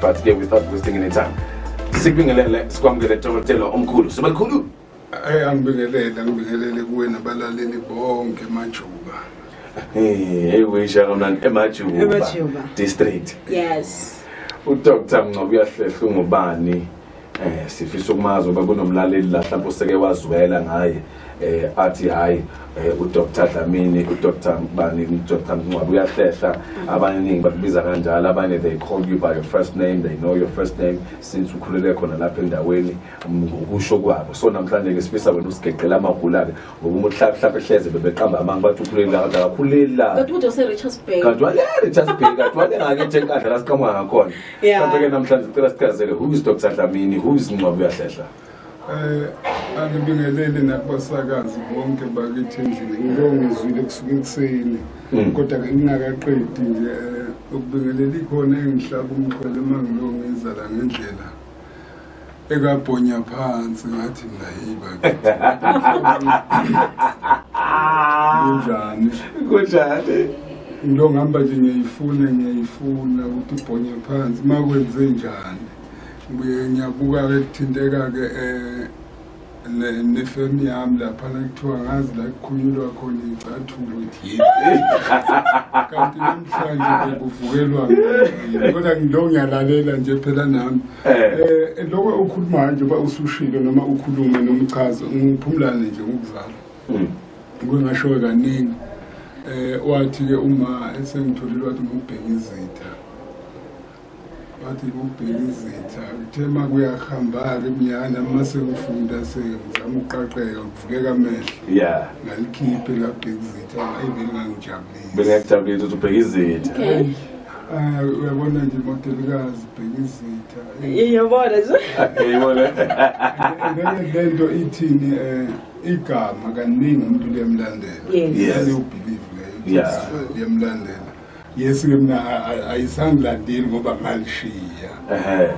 but ke without wasting any time sikubingelele sikwamukele dokotela omkhulu sobalikhulu ayi angibingelele angibingelele kuwe nabalaleli bonke majuba hey wisha kamnandi emajuba district yes udr mncoko uyahlehla ungubani eh sifisa ukumazi uba kunomlaleli la mhlawumbe useke wazwela ngaye eh athi hayi eh, uDr Dlamini uDr Bani uDr Mncwabe uyahlehla abaningi bakubiza kanjalo abanye they call you by your first name they know your first name since ukhulele khona lapha endaweni ngokusho kwabo so namhlanje ke sifisa wena usigeqela amagula ke ngoba umuntu hlaphi hlaphi ehleze bebeqamba amanga bathi ukhuleli kanti akakhuleli la kanti umuntu oserichards bay kanti wale richards bay kanti wale ngake nje enkandla la siqhamuka ngakhona mhlawumbe ke namhlanje sicela sichazele who is dr dlamini who is ncwabi uyahlehla eh angibingelele nakubasakazi bonke bakithi endlini ngibongizwile kusuka ekuseni hmm. kodwa ke ngingakaqedi nje eh, ukubingelela ikhona engihlaba umxhwele uma ngilongiza la ngendlela ekabhonya phansi ngathi mina hey bakithi kunjani kunjani into ngihamba nje ngiyayifuna ngiyayifuna ukuthi ubhonye phansi uma kwenze njani ngibuye ngiyabuka-ke kuthinteka-ke um eh, nefemu yami laphana kuthiwa ngazi la kukhulunyulwa khona iyicathulo ukuthi kanti namhlanje bekuvukelwa kodwa ngilo ngiyalalela nje phela nami um loko ukhulumayo nje uba usushilo noma ukhulume nomchazo ngiphumulane nje ngokuzalwa hmm. kwengashowe kaningi um wathi-ke uma esengitholile wathi ngokubheka izitha wathi kubheka izitha uthe ma kuyahambaka emnyana uma sekufunda sezama ukuqaqeka kuvukeka amehlo ya ngalikhiphe labheka izitha ayi belingangijabulisi bengekujabulisa ukuthi ubheka izitha ah, uyabona nje modelikazi bheka izitha iyobona nje iyobona le nto ithini um igama kaningi umuntu liyamlandela yalewubhilive leyo liyamlandela yes ke mina ayisangilandeli ngoba ngalishiya eh,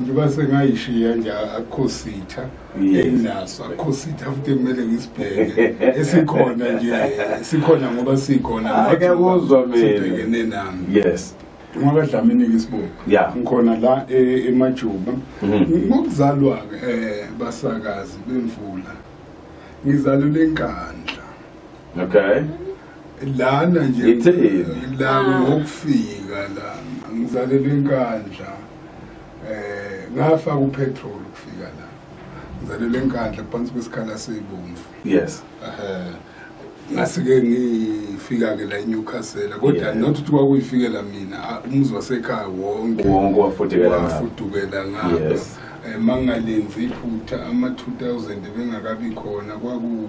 njengoba sengayishiya nje akukho sitha enginaso akukho sitha futhi kumele ngisibheke esikhona nje sikhona ngoba sikhona ake kuzwa mina nami yes ngoba dlamini ngisiboni ngikhona la e, emajuba mhm. ngokuzalwa ke eh, basakazi bemvula ngizalule inkandla okay lana nje Ngitheni? la Ah. ngokufika la ngizalelwe enkandla eh ngafaka upetrol ukufika la ngizalelwe enkandla phansi kwesikhala seyibomvu yes eh ngasike ngifika ke la eNewcastle kodwa Yeah. not ukuthi kwakuyifikela mina ah, umuzi wasekhaya wonke wonke wafudukela ngapha. wafudukela ngapha Yes. Eh, mangalenzi iphutha ama-2000 bengakabi khona kwaku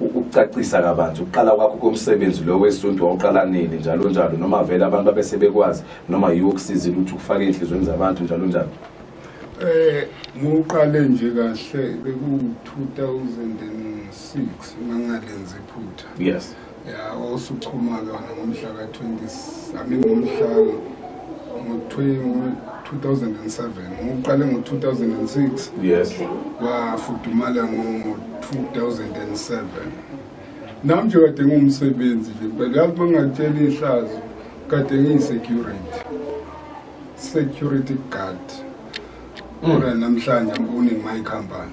ukucacisa kabanzi ukuqala kwakho komsebenzi lo wesuntu wawuqala nini njalo njalo noma vele abantu babesebekwazi noma yiwo kusizile ukuthi ukufake ey'nhlizweni zabantu njalo njalo um eh, ngiwuqale nje kahle bekuwu-two thousand and six mangalenza iphutha yes ya wawusuchuma-ke wona ngomhla ka-twenty i mean ngomhlanga ngo-2007 ngiwuqale ngo-2006 yes wafudumala ngo-2007 nam nje kade ngumsebenzi nje but yazi uma ngatshela ihlazo kade ngiyisecurity security guard mm. ora namhlanje ngibone my company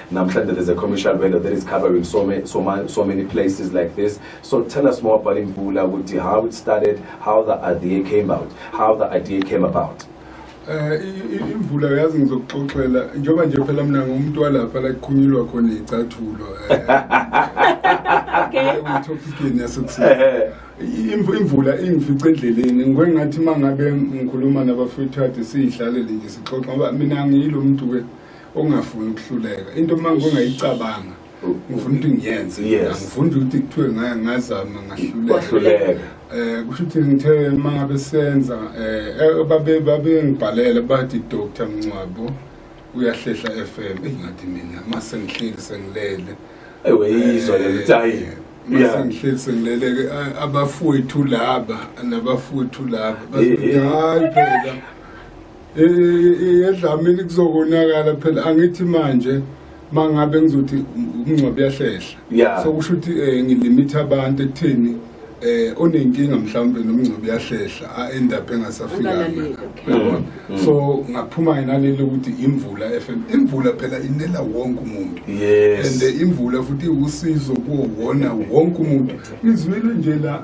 Namhlanje there's a commercial vendor that is covering so many, so, ma- so many places like this. So tell us more about Imvula, ukuthi how it started, how the idea came out, how the idea came about. Eh, i- i- imvula yazi ngizokuxoxela njengoba nje phela mina ngumuntu walapha la kuqhunyulwa khona iy'cathulo etophikini yasekuseni Imvu- imvula ingifice endleleni ngikwe ngathi uma ngabe ngikhuluma nabafethu kade siyidlalele nje sixoxa ngoba mina ngiyilo muntu-ke ongafuni ukuhluleka into uma ngingayicabanga ngifuna ukuthi ngiyenze angifuni nje ukuthi kuthiwe ngazama ngahluleka um kusho ukuthi ngithe uma ngabe senza um babengibhalele bathi doctor mncwabo uyahlehla f m eyi ngathi mina uma sengihleli sengilele eweyizwa lelo ukuthi hayi masengihleli sengileleke abafowethu laba nabafowethu laba hayi phela edlamini kuzokonakala phela angithi manje mangabe ngizothi umngcwabo uyahlehla so kusho ukuthi um eh, ngilimitha abantu ekutheni eh onenkinga mhlawumbe nomngcebo yahlehla a end up engasafika mm, mm. so ngaphuma naleli ukuthi imvula FM imvula phela inela wonke umuntu yes and eh, imvula futhi usizo kuwona wonke umuntu izwile nje la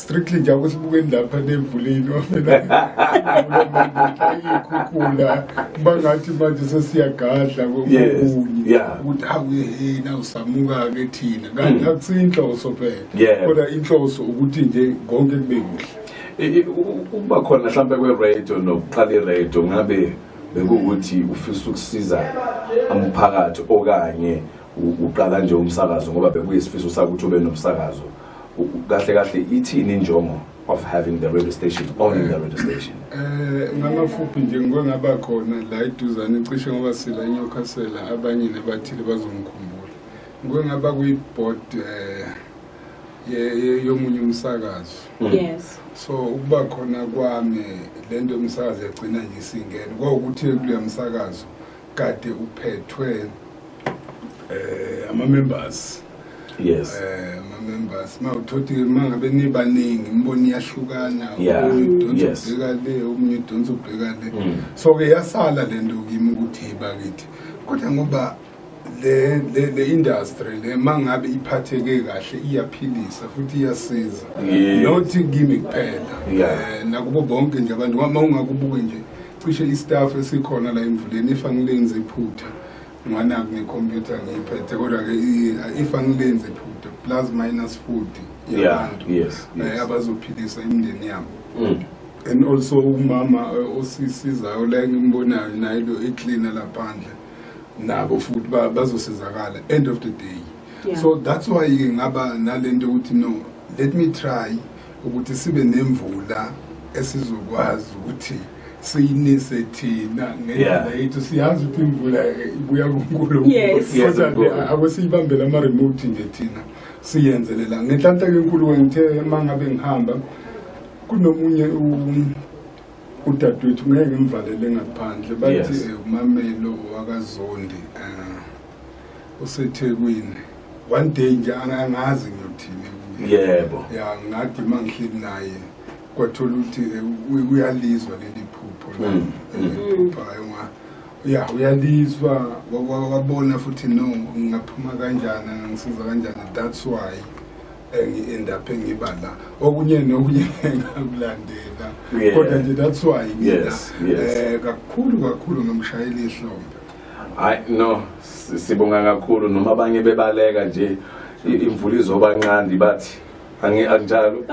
strictly nje akusibukeni lapha nemvuleni wamenaikhukhula kuba ngathi manje sesiyagadla kokunye ukuthi awuyehena usamuka-ke thina kanti hmm. akusiyo inhloso phela kodwa inhloso ukuthi nje konke kube kuhle ukuba khona mhlawumbe kweradio nokuqala iradio ngabe bekuwukuthi ufisa ukusiza umphakathi okanye uqala nje umsakazo ngoba bekuyisifiso sakho ukuthi ube nomsakazo kahle kahle ithini injongo of having the radio station owning the radio station eh ngamafuphi nje ngike ngaba khona la iduzane cishe ngoba sila inyokasela abanye nabathile bazongikhumbula ngike ngaba kwi-board eh yomunye umsakazo mm. yes so ukuba khona kwami lento yomsakazo yagcina nje isingene kwawukuthi kuleya msakazo kade uphethwe eh ama members yes eh ama members mawuthothi mangabe nibaningi imboni yahlukana udonsa ubheka le omunye udonsa ubheka le mm. so ke yasala lento kimi ukuthi bakithi kodwa ngoba le le le industry le mangabe iphatheke kahle iyaphilisa futhi iyasiza nothi kimi kuphela eh, nakubo bonke nje abantu uma ungakubuke nje cishe istaff esikhona la emvuleni if angilenzi iphutha nganaku ngecomputer ngiyiphethe kodwa-ke if angilenzi iphutha plus minus 40 yabantu yeah, yes, eh, yes. abazophilisa imindeni yabo mm. and also umama eh, osisizayo la engimbonayo naye lo ecleaner laphandle nabo futhi bazosizakala end of the day yeah. so that's why ngaba nalento ukuthi no let me try ukuthi sibe nemvula esizokwazi ukuthi siyinise thina ngendlela yethu siyazi ukuthi imvula ibuya kunkulunkulu akusiyibambela ama-remote nje thina siyenzelela ngenhlanhla kenkulu wengithe uma ngabe ngihamba kunomunye udadewethu ngeke ngimvalele ngaphandle bathi eh, umamelo wakazondi um usethekwini one day nje angangazi ngiyothini yebo ya ngathi uma ngihleli naye kwathola ukuthi eh, uyalizwa leli phupho la mm, mm. eliphuphayo nga ya uyalizwa wabona futhi no ngingaphuma kanjani ngisiza kanjani that's why engi-endaphe ngiba la okunye nokunye ngakulandela kodwa nje that's why ngina um eh, kakhulu kakhulu ngimshayela ihlombe hayi no sibonga kakhulu noma abanye bebaleka nje imvula izoba nqandi bathi anginjalo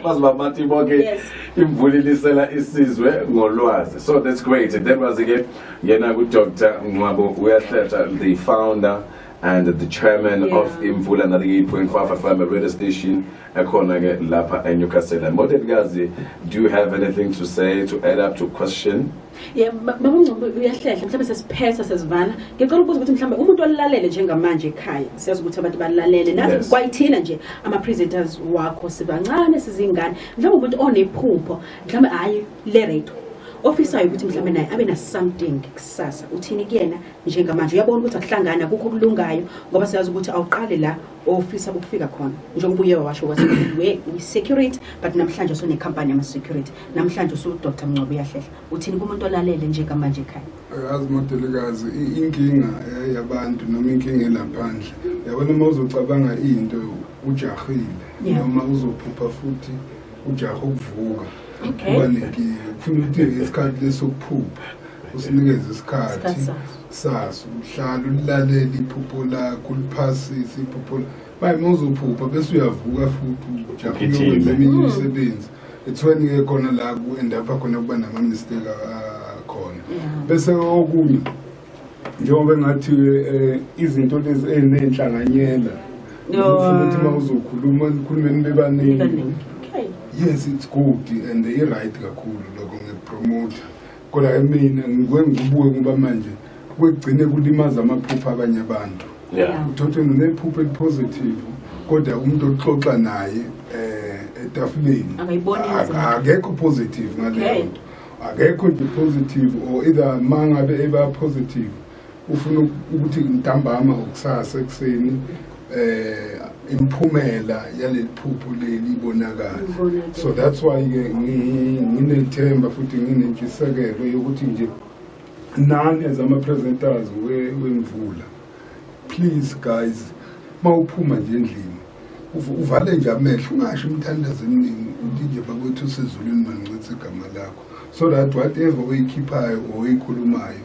bazobamati bonke imvula ilisela isizwe ngolwazi so that's great that was ke yena kudr nqwabo uyahlehla the founder and the chairman yeah. of imvula nalike-point5 fm radio station ekhona ke lapha enewcastle and modedkazi do you have anything to say to add up to question yebo baba ungcobo uyahlehla mhlawumbe sesiphetha sesivala ngicela ukubuza ukuthi mhlawumbe umuntu olalele njengamanje ekhaya siyazi ukuthi abantu balalele nazi Yes. kwayithina nje ama-presenters wakho sibancane sizingane mhlawumbe umuntu onephupho mhlawumbe hhayi le radio ofisayo ukuthi mhlawumbe naye abe na-something kusasa uthini kuyena njengamanje uyabona ukuthi akuhlangani akukho okulungayo ngoba siyazi ukuthi awuqali la ofisa ukufika khona njengoba uye wawasho wathi we security but namhlanje usunekhampani yama-security namhlanje usudr mncwaba uyahlehla uthini kumuntu olalele nje kamanje ekhaya yazi modelikazi inkinga eh, yabantu noma inkinga elaphandle yabona uma uzocabanga into ujahile noma uzophupha futhi ujaha ukuvuka uba nenkinga kufuna ukuthi isikhathi lesokuphupha usinikeze isikhathi sazi uhlala ulilalele iphupho lakho uliphasise iphupho manje uma uzophupha bese uyavuka futhi ujaphe uyokwenza eminye hmm. imisebenzi it's when ke khona la ku-endapha khona kuba nama-mistake akhona ah, bese okunye njengoba engathi um eh, izinto lezi eziney'nhlanganyela ufuna ukuthi uma uzokhuluma nikhulumeni bebaningi yes it's good and i-right kakhulu lokho ngikupromotha kodwa ke mina ngike ngibuke ngoba manje kwegcine kulimaza amaphupha abanye abantu Yeah. uthothi unephupha elipositive kodwa umuntu oxoxa naye eh etafuleni Akayiboni Ak- inzima. akekho positive Okay. ngaleyo nto akekho nje positive or either mangabe eba positive ufuna ukuthi ntambama ngokusasa ekuseni eh imphumela yaleliphupho leli ibonakala so that's why ke nginethemba futhi nginentshisekelo yokuthi nje nani as ama presenters wemvula please guys mawuphuma nje endlini uvale nje amehlo ungasho umthandazo eminingi uthi nje bakwethu usezulwini mangincithe igama lakho so that whatever oyikhiphayo or oyikhulumayo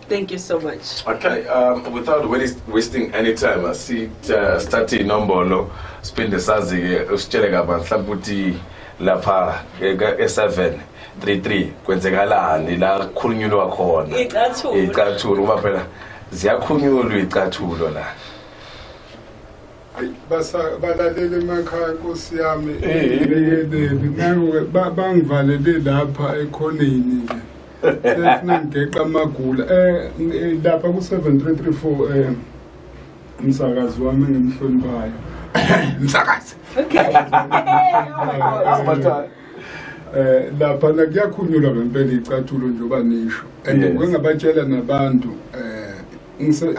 Thank you so much. Okay, um, without wasting any time, I see uh, start inombolo siphinde sazi-ke usitshele kabanzi mhlawumbe ukuthi lapha e-seven three three kwenzekalani la kukhulunyulwa khona iy'cathulo ngoba phela ziyakhunyulwa iy'cathulo la balalele emakhaya nkosi yami eyekeleni bangivalele lapha ekhoneni nje sefuna ngigeqa amagula um lapha ku-seven three three four um umsakazi wami engimhloniphayo msakazi eh lapha na kuyakhunyulwa ngempela icathulo njengoba nisho and ngengabatshela nabantu eh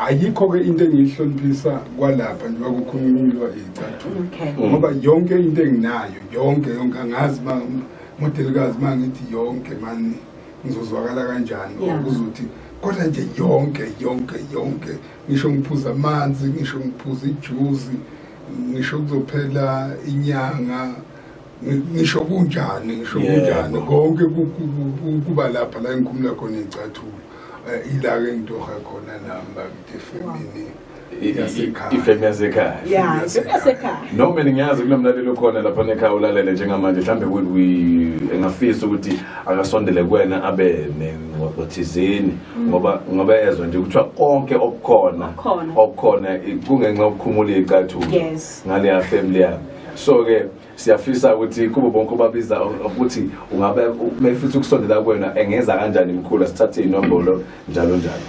ayikho-ke into engiyihloniphisa kwalapha njengoba kukhulunywa iyicathulo ngoba yonke into enginayo yonke yonke angazi uba modelikazi uma ngithi yonke mani ngizozwakala kanjani okuzothi kodwa nje yonke yonke yonke ngisho ngiphuza amanzi ngisho ngiphuza ijuzi ngisho kuzophela inyanga ngisho kunjani ngisho kunjani konke kuba lapha la ngikhumula khona iy'cathulo eh, ila-ke ngitoha khona nami bakithi efemini ifemi yasekhaya noma ngiyazi kunomlaleli okhona lapha nekhaya ulalele njengamanje mhlawumbe engafisa ukuthi akasondele kuwena abe nengxoxo thizeni mm. ngoba ngoba ezwa nje kuthiwa konke okukhona okukhona kungenxa yokukhumula iy'cathulo ngaleya family yami so-ke siyafisa ukuthi kubo bonke obabiza ukuthi ungabe mefisa ukusondela kwena engeza kanjani mkhulu sithathe inombolo njalo njalo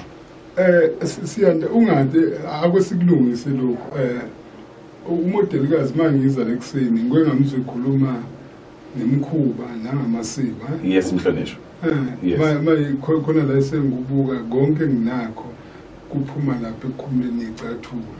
eh siyanda ungathi akwesikulungise lokho eh umodelikazi mangiza lekuseni ngeke ngamuzwe ekhuluma nemkhuba nangamasiko eh? yes mhlonishwa eh maye khona la esengubuka konke nginakho kuphuma lapha ekukhumeni ecathulo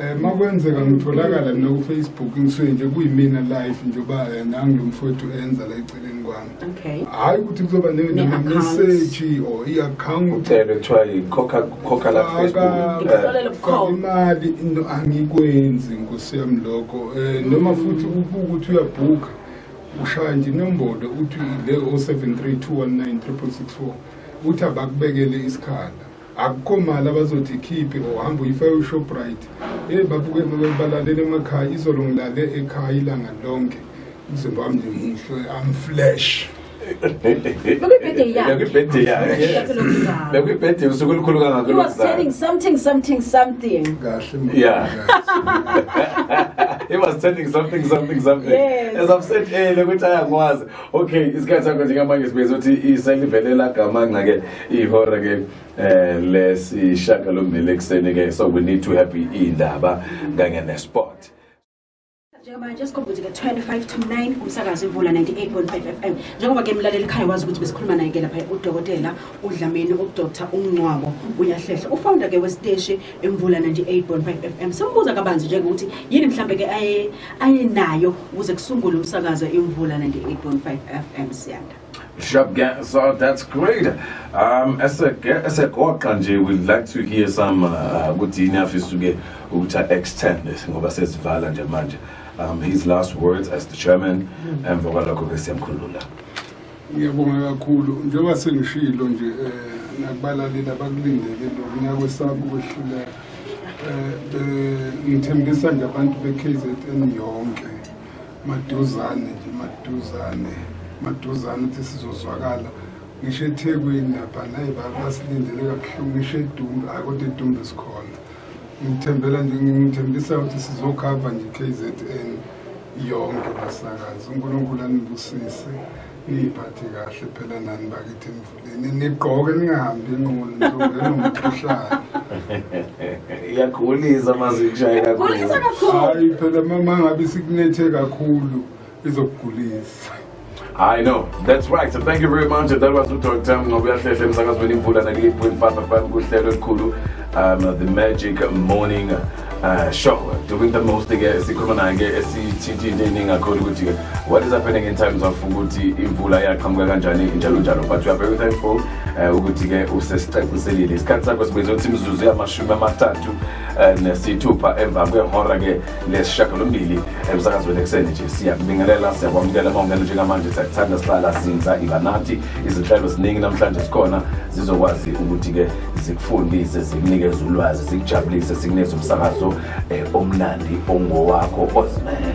Eh makwenzeka ngitholakala mina ku Facebook ngisuke nje kuyimina live njoba eh, nangi lomfowethu enza la eceleni kwami. Okay. Hayi ukuthi kuzoba ne message or i account. Uthele kuthiwa ikhokha khokha la Facebook. Ngikusolele bukhoma. Imali into angikwenzi ngosiyam lokho. Eh noma futhi ubuku ukuthi uyabhuka ushaya nje inombolo uthi le 0732193664 uthi abakubekele isikhala. akukho mali abazothi ikhiphe ngohamba uyifa ushoprite eyi babuke balalele emakhaya izolo ngilale ekhaya ilanga lonke umzimba wami ngimuhle amflash bekuyibhede usuku olukhulu kangakolosaying something something something yeah he was telling something something something yes. as i've said earlier ukuthi ayangwazi okay isikhathi sakho njengamanje sibezothi iselivelela gama ngake ihora ke eh lesishagalombili ekuseni ke so we need to have indaba kanye ne sport njengamanje sikhombuthe ke 25 to 9 kumsakazi imvula 98.5 FM njengoba ke mlaleli ekhaya wazi ukuthi besikhuluma naye ke lapha udokotela udlameni udr umncwabo uyahlehla ufounder ke wesiteshi imvula 98.5 FM simbuza kabanzi nje ukuthi yini mhlambe ke aye ayenayo ukuze kusungule umsakazo imvula 98.5 FM siyanda Shab so that's great. Um esegoqa nje we like to hear some uh, ukuthi yini afisa uke ukuthi extend ngoba sesivala nje manje. Um his last words as the chairman mm. emva kwalokho ke siyamkhulula. Ngiyabonga kakhulu njengoba sengishilo nje eh, nakubalalela abakulindele lokunyaka kwesabo kwehluleka. Eh, eh ngithembisa nje abantu be KZN yonke. maduzane nje maduzane maduzane ukuthi sizozwakala ngisho ethekwini lapha nayi basilindele kabuhlungu ngisho edumbe ayi kodwa edumbe sikhona ngithembela nje ngithembisa ukuthi sizokhava nje i-k z n yonke basakazi unkulunkulu anibusise niyiphathe kahle phela nani bakithi nigqoke ningahambi inqulu ntobenomkhuhlane iyakhulisa mazinjaya kakhulukhulisa kakhulu hayi phela mama ngabe sikunethe kakhulu izokugulisa I know. That's right. So thank you very much. That was Dr. Tam Ngobiyahlehla emsakazweni imvula 98.5 FM kuhlelo elikhulu um the magic morning Uh, sure, doing the most ke sikhuluma naye ke esithinta into eningi kakhulu ukuthi ke what is happening in terms of ukuthi imvula yaqhamuka kanjani njalo njalo but we are very thankful uh, ukuthi ke usesicaciselile isikhathi sakho sibize ukuthi imizuzu yamashumi amathathu uh, nesithupha emva kwehora ke lesishagalombili emsakazweni ekuseni nje siyakubingelela siyakwamukela uma ungena njengamanje siyakuthanda sihlala sinza iba nathi izinhlelo ziningi namhlanje sikhona zizokwazi ukuthi ke zikufundise zikunikeze ulwazi zikujabulise zikunikeze umsakazo eh, omnandi ongowakho ozimele